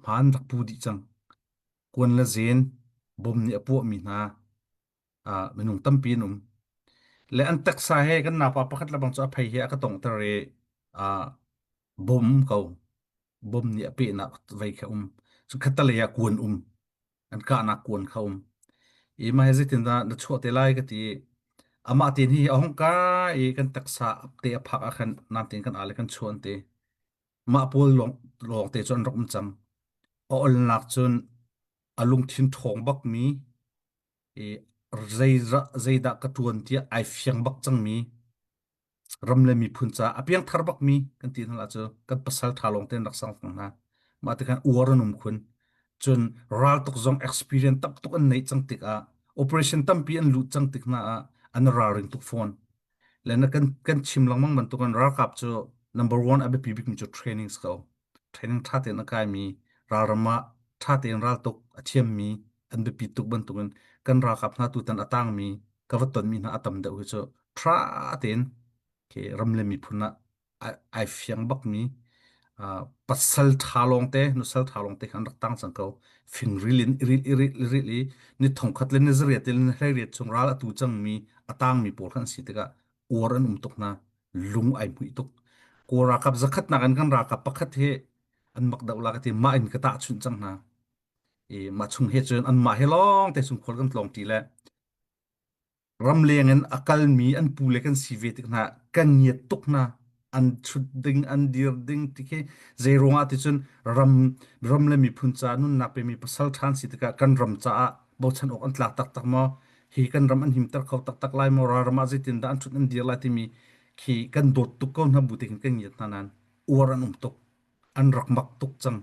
hmaan rak pu dih cang. Kuan le zen bom nih a puahmi hna minung tampi an um. Le an teksa he kan napa pakhat le bang cu a phei he a ka tongter i bom ko bom nih a pehnak vei kha um cu khatalei ah kuan um an kahnak kuan kha um i ma he zeitin dah na chuah te lai ka ti amah tin hi a hong ka i kan taksa te a phak ah khan nam tin kan ale kan chuan te Mah pawl lawng te cu an rak um cang. A olnak cun a lungthin ṭhawng bakmi i zei zeidah ka ṭuan tiah ai fiang bak cangmi ram le miphun caah a piangthar bakmi kan ti hna cu kan pasalṭha lawng te an rak sang fang hna. Mah tikhan uar an um khun. Cun raltuk zong experience tamtuk an neih cang tikah operation tampi an lut cang tik hna ah an ralring tuk fawn. le na kan kan chim lengmang bantuk an ralkap cu number one a biapi bikmi cu trainings ko training tha tein a kai mi ralram ah tha tein raltuk a thiam mi an biapi tuk bantukin kan ralkap hna tutan a tang mi ka va ton mi hna a tam deuh hi cu tha tein ke ram le miphun ah ai fiang bakmi pasal ṭha lawngte, nusal ṭha lawngte khan rak tang cang ko. Fingril in irilh irilh irilh i ni thongkhat le ni zariat le ni hlariat chung ral a tu cangmi a tangmi pawl kha an si tikah uar an um tuk hna. Lung ai hmuih tuk. Kaw ralkap zakhatnak in kan ralkap pakhat hi an mak deuh lak ati mah in ka tahchunh cang hna. I mah chung he cun an mah he lawngte chung khual kan tlawng ṭi le ramleng in a kalmi an pule kan si ve tik hna kan ngiat tuk hna an chut ding an dir ding ti khi zei ruangah ticun ram ram le miphun caah nunnak pe mi pasal ṭhan si tikah kan ram caah bochan awk an tla taktak maw hi kan ram an himter kho taktak lai maw ral ram ah zeitin dah an ṭhut an dir lai timi khi kan dawt tuk ko hna bu tikin kan ngiat hna nan uar an um tuk an rak mak tuk cang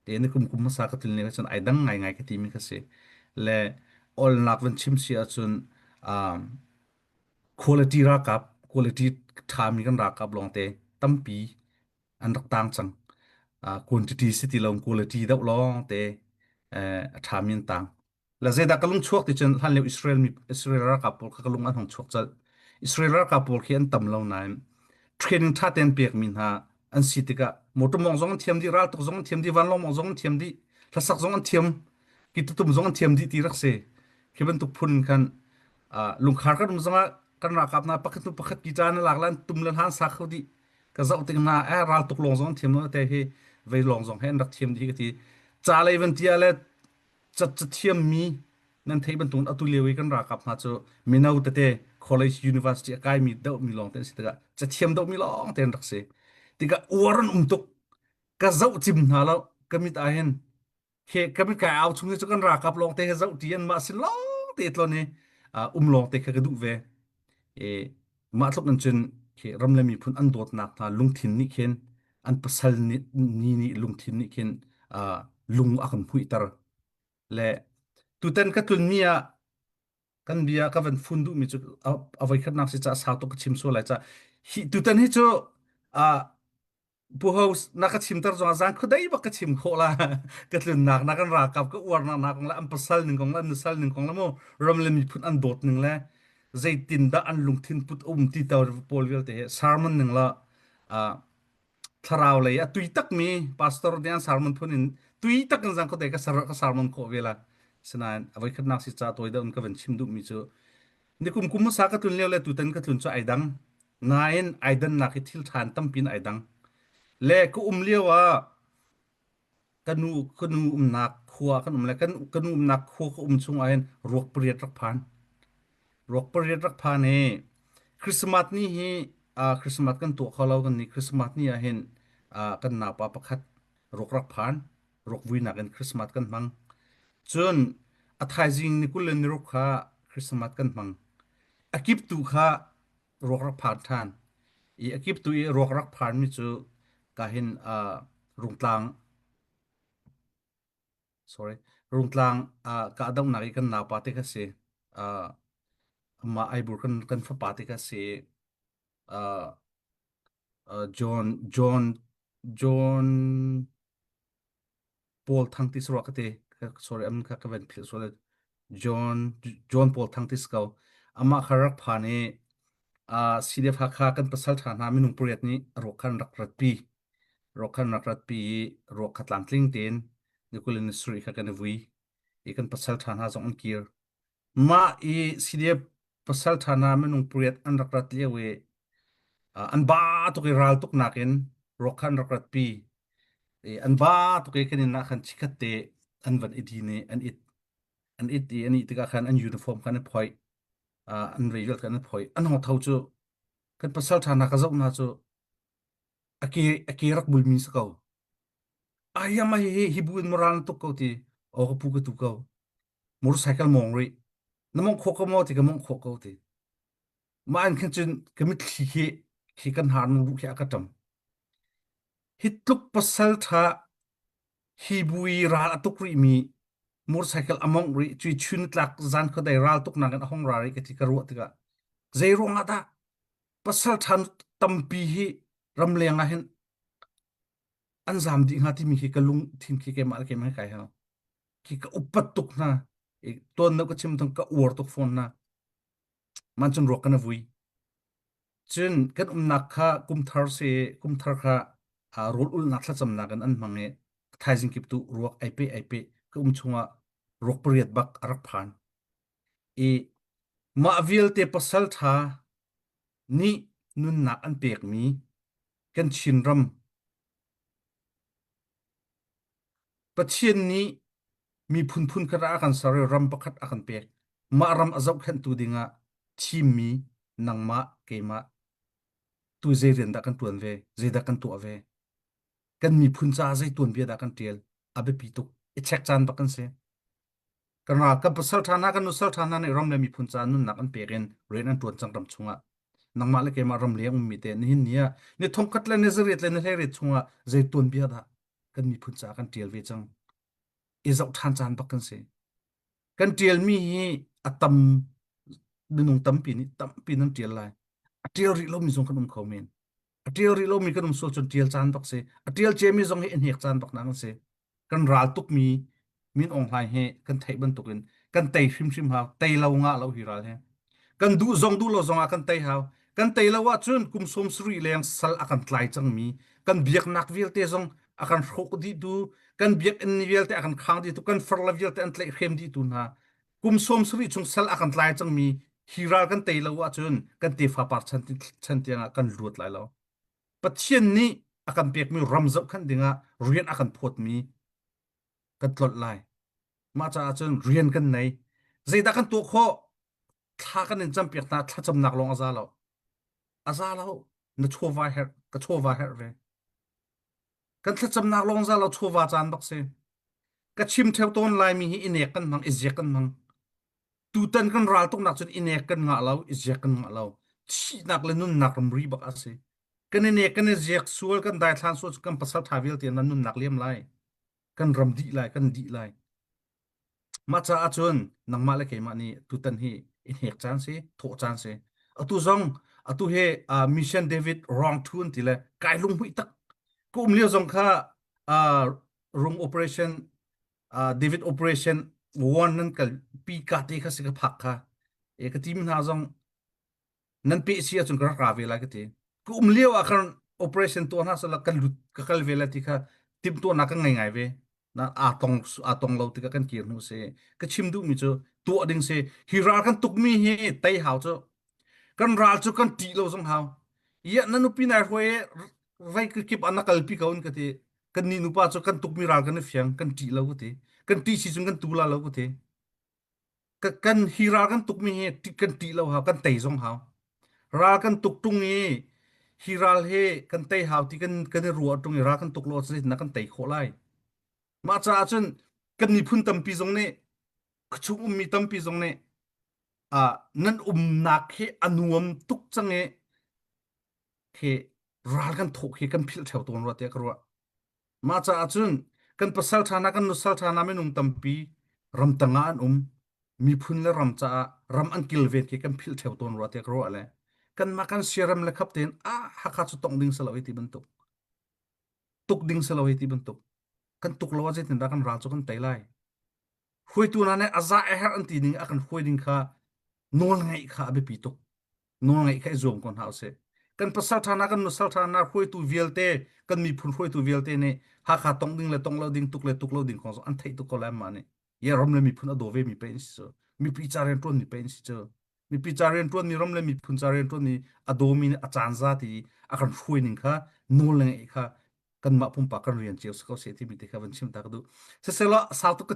te na kum kum hmasa ka tlin leng cun ai dang ngaingai ka timi ka si le awlnak van chim si ahcun um, quality rakap quality ṭhami kan rakap lawngte tampi an rak tang cang uh, quantity si ti lo quality deuh lawngte uh, a ṭhami an tang La zeidah ka lung chuak ti cun hlan lio Israel mi Israel ralkap pawl kha ka lung an hong chuak colh. Israel ralkap pawl khi an tam lo nain training ṭha tein pekmi hna an si tikah motor mawng zong an thiam dih, raltuk zong an thiam dih, vanlawng mawng zong an thiam dih, hlasak zong an thiam, kitutum zong an thiam dih ti rak si. Khi bantuk phun khan uh, lungkhar kan um zongah kan ralkap hna pakhat hnu pakhat ki caan lak lan tum le hlan sa kho dih ka zoh tik hna eh raltuk lawng zong an thiam lo te hi vei lawng zong he an rak thiam dih ka ti ca lei van tia le cat cathiam mi nan thei bantukin atu lio i kan rakap hna cu mino tete college university a kai mi deuh mi lawng te an si tikah cathiam deuh mi lawng te an rak si tikah uar an um tuk ka zoh cim hna lo ka mit ah hin he kami kai au chung hi cu kan rakap lawng te he zoh ti an mah si lawng te tlon i um lawng te kha ka duh ve Mah tluk in cun ram le miphun an dawtnak hna lungthin nih khin an pasal ni nih lungthin nih khin lung a kan hmuihter. Le tutan ka tlunmi ah kan bia ka van fun duhmi cu a voikhatnak si caah sau tuk ka chim sual lai. Tutan hi cu Pu House na ka chimter zong ah zan khuadei bak ka chim khawh la ka tlunnak na kan rakap ka uarnak na kong le an pasal ning kong le an nasal ning kong le mu ram le miphun an dawt ning le zeitin dah an lungthin put um ti to pawl vialte he sermon ning la uh, thlarau lei a tui tak mi pastor dian sermon phun in tui tak in zang ko te ka sar ka sermon ko vela sinain avoi khatnak si cha toy da un ka ven chim du mi chu nikum kum sa ka tlun leo le tutan ka tlun chu ai dang nain ai dannak i thil ṭhan tampi in ai dang. Le ka um lio ah ka nu ka nu umnak khua kan um le kan ka nu umnak khua ka um chung ah hin ruak pariat rak phan. Ruak pariat rak phan i Christmas ni hi uh, Christmas kan tuah kho lo kan ni Christmas ni ah hin uh, kan napa pakhat ruak rak phan. Ruak vuinak in Christmas kan hmang. Cun a thaizing ni kul le ni ruk kha Christmas kan hmang. A kip tu kha ruak rak phar ṭhan i a kip tu i ruak rak pharmi cu ka hin uh, rungtlang sorry rungtlang uh, ka dohnak i kan naupa te kha si uh, ma aibur kan kan fapa te kha si uh, John John John Paul thang tis rwa kate sorry am ka kaven phil so le John John Paul thang tis ko ama kharak phan e a CDF hakha kan pasal tha na minung puriat ni ro khan rak rat pi ro khan rak rat pi ro khatlang tling ten nikulin sri kha kan vui i kan pasal tha na zong an kir Mah i CDF pasalṭha hna minung pariat an rak rat lio i uh, an ba tuk i ral tuk nakin ruak kha an rak rat pi i an va tuk i kan inn ah khan chikhat te an van i din i an it an it i an ih tikah khan an uniform khan an phoih uh, an reirat khan an phoih an hong tho cu kan pasalṭha hna ka zoh hna cu a ke a ke rak bulmi si ko ai ama hi hi hi bu in moral na tuk ko ti o ka pu ka tu ko motorcycle mawng rih na mawngh khawh ko maw ti ka mawngh khawh ko ti mah an khin cun ka mitthli hi khi kan har nu ruh hi a ka ṭam hi tluk pasal ṭha hi bui ral a tuk rih mi motorcycle a mawngh rih cui chun tlak zan kho dai ral tuk nakin a hong ra rih ka ti ka ruah tikah zei ruang ah dah pasal ṭha tampi hi ram leng ah hin an zam dih hnga timi hi ka lung thin khi keimah le keimah hi kai hau ki ka upat tuk hna i ton no ka chim thang ka uar tuk phone na man chun ruak kana vui cun kan umnak kha kumthar se kumthar kha rol ul nak thlacam nak an an mange thaizing kip tu ruak aipe aipe ka um chunga ruak pariat bak arak phan i ma vial te pasal tha ni nunnak an pek mi kan chin ram Pathian nih miphun phunkhat ah a kan ser i ram pakhat a kan pek. Mah ram a zohkhenhtu dingah thimmi nangmah keimah tu zei rian dah kan ṭuan ve, zeidah kan tuah ve, kan miphun caah zei tuanbia dah kan ṭial, a biapi tuk. I check caan bak kan si. Ka ra, kan pasal ṭha hna, kan nusal ṭha hna nih ram le miphun caah nunnak an pek in rian an ṭuan cang ram chungah. Nangmah le keimah ram leng ummi te nihin ni ah ni thongkhat le ni zariat le ni hleiriat chungah zei tuanbia dah kan miphun caah kan ṭial ve cang. I zoh ṭhan caan bak kan si. Kan ṭialmi hi a tam minung tampi nih tampi nan ṭial lai. A ṭial rih lomi zong kan um kho men. A ṭial rih lomi kan um sual cun ṭial caan bak si. A ṭial ciami zong hi a hnek caan bak na kan si. Kan ral tukmi Min Aung Hlaing hi kan theih bantukin kan tei hrimhrim hau tei lo nga lo hi ral he kan duh zong duh lo zong ah kan tei hau kan tei lo ahcun kum sawm sarih leng sal a kan tlai cangmi kan biaknak vialte zong a kan hrawk ditu kan biakinn vialte a kan khang ditu kan far la vialte an tlaih hrem ditu hna kum sawm sarih chung sal a kan tlai cangmi hi ral kan tei lo ahcun kan tefa par chan chan tiangah kan luat lai lo Pathian nih a kan pekmi ram zoh khan dingah rian a kan phawtmi kan tlolh lai. Mah caah cun rian kan nei. Zeidah kan tuah khawh? Thla kan in campiak hna, thlacamnak lawng a za lo. A za lo. Na chawva herh, ka chawva herh ve. Kan thlacamnak lawng za lo chawva caan bak si. Ka chim theo tawn Laimi hi i nek kan hmang, i ziak kan hmang. tutan kan ral tuk nak cun inek kan ngah lo iziak kan ngah lo thihnak le nunnak ramri bak asi kan ine kan iziak sual kan daithlan sual kan pasal tha vialte nan nunnak liam lai kan ram di lai kan di lai ma ca ahcun nangmah le keimah nih tutan hi inek caan si thawh caan si atu zong atu he uh, mission david wrong tun ti le kai lung hui tak kum lio zong kha uh, room operation uh, David Operation Warn nan kal pi ka te kha si ka phak kha e ka team hna zong nan pe si acun ka rak ra ve lai ka te ka um lio ah khan operation to hna sala kan lut ka kal ve la ti kha tim to na ka ngai ngai ve na a tong a tong lo ti ka kan kir nu se ka chim du mi chu tu ding se hi rar kan tuk mi hi tai hau chu kan ral cu kan ṭih lo zong hau iya na nupi nai hruai e vai kip an na kalpi ko in ka ti kan ni nupa cu kan tukmi ral kan i fiang kan ṭih lo ka ti kan ṭih si cun kan tu la lo ka ti kan hi ral kan tukmi hi kan ṭih lo hau kan tei zong hau ral kan tuk ṭung i hi ral he kan tei hau ti kan kan i ruah ṭung i ral kan tuk lo cun na kan tei khawh lai mah caah cun kan miphun tampi zong nih ka chung ummi tampi zong nih uh, nan umnak hi a nuam tuk cang i hi ral kan thawk hi kan philh theo tuan rua tiah ka ruah mah caah cun kan pasal ṭhana kan nusal ṭhana minung tampi ram tanga an um miphun le ram caah ram an kilven khi kan philh theo tuan rua tiah ka ruah le kanmah kan siaram le khap tein a hakha cu tong ding selo hi ti bantuk tuk ding selo hi ti bantuk kan tuk lo a zeitin dah kan ral cu kan tei lai Hruaitu hna nih a zah a herh an ti ning a kan hruai ding kha nawl ngeih kha a biapi tuk. Nawl ngeih kha i zuam ko hna usih. Kan pasal ṭha hna, kan nusal ṭha hna, hruaitu vialte, kan miphun hruaitu vialte nih Hakha tong ding le tong lo ding, tuk le tuk lo ding kong zong an theih tuk ko lai mah nih. Ye ram le miphun a daw ve mi pei an si cu. Mipi ca rianṭuan mi pei an si cu. Mipi ca rianṭuan mi, ram le miphun ca rianṭuan mi a daw mi nih a caan za ti a kan hruai ning kha nawl le ngeih kha kanmah pumpak kan rian cio si ko seh ti mi te kha van chim ta ka duh. Siseh law sau tuk ka